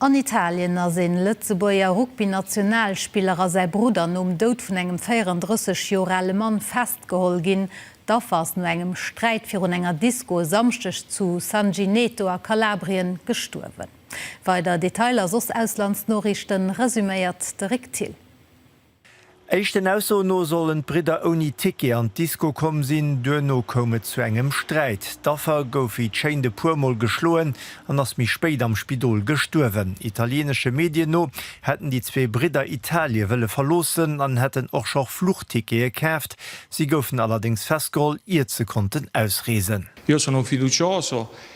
An Italien ass ee Lëtzebuerger Rugby-Nationalspiller a säi Brudder nom Doud vun engem 34 Joer ale Mann festgeholl ginn. D'Affer ass no engem Sträit virun enger Disko e Samschdeg zu San Gineto a Kalabrien gestuerwen. Weider Detailer a soss Auslandsnoriichten resuméiert de Rick Thill. Éischten Aussoen no sollen d'Bridder ouni Ticket an d'Disco komm sinn. Duerno koum et zu engem Sträit. D'Affer gouf wéi d'Schéint e puermol geschloen an ass méi spéit am Spidol gestuerwen. Italieenesche Medien no hätten déi zwee Bridder Italie wëlle verloossen an hätten och scho Fluchtickete kaaft. Si goufen allerdéngs festgeholl, iert se konnten ausreesen. Io sono fiducioso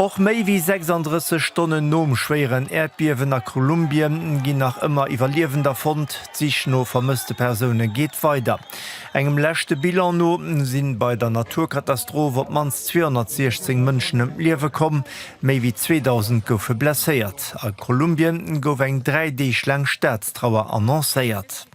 Och méi wéi 36 Stonnen nom schwéieren Äerdbiewen a Kolumbien ginn nach ëmmer Iwwerliewender fonnt. D'Sich no vermësste Persoune geet weider. Engem leschte Bilan no si bei der Naturkatastroph op d'mannst 216 Mënschen ëm d'Liewe komm, méi wéi 2.000 goufe blesséiert. A Kolumbien gouf eng dräi Deeg laang Staatstrauer annoncéiert.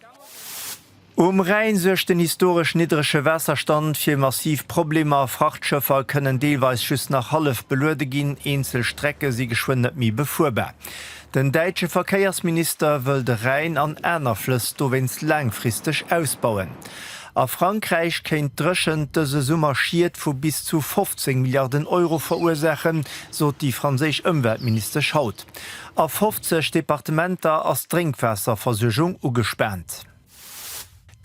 Um Rhäin suergt den historesch niddrege Waasserstand fir massiv Problemer. Frachtschëffer kënnen deelweis just nach hallef beluede ginn, eenzel Strecke si geschwënn net méi befuerbar. Den däitsche Verkéiersminister wëll de Rhäin an aner Flëss dowéinst laangfristeg ausbauen. A Frankräich kéint d'Dréchent dëse Summer Schied vu bis zu 15 Milliarden Euro verursaachen, sot déi franséisch Ëmweltministesch haut. A 50 Departementer ass d'Drénkwaasserversuergung ugespaant.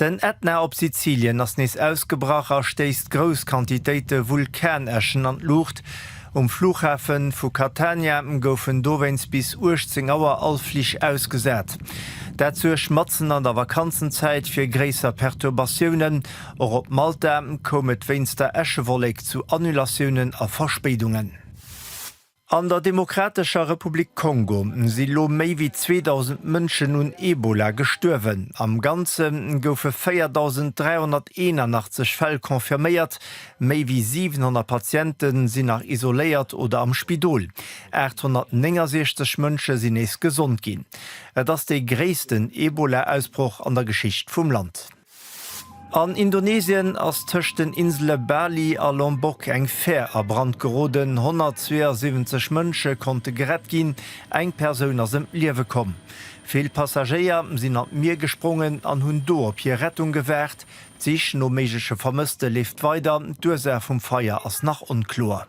Den Ätna op Sizilien ass nees ausgebrach a stéisst grouss Quantitéite Vulkanäschen an d'Luucht. Um Fluchhafe vu Catania goufen dowéinst bis 18 Auer all Flich ausgesat. Dat suergt matzen an der Vakanzenzäit fir gréisser Perturbatiounen. Och op Malta koum et wéinst der Äschewollek zu Annulatiounen a Verspéidungen. An der Demokratescher Republik Kongo si lo méi wéi 2.000 Mënschen un Ebola gestuerwen. Am Ganze goufe 4.381 Fäll confirméiert, méi wéi 700 Patiente sinn nach isoléiert oder am Spidol. 869 Mënsche sinn nees gesond ginn. Et ass dee gréissten Ebola-Ausbroch an der Geschicht vum Land. An Indonesien ass tëscht den Insele Bali a Lombok eng Fär a Brand geroden. 172 Mënsche konnte gerett ginn, eng Persoun ass ëm d'Liewe komm. Vill Passagéier sinn an d'Mier gesprongen an hunn do op hir Rettung gewaart. D'Sich no méigleche Vermësste leeft weider, d'Ursaach vum Feier ass nach onkloer.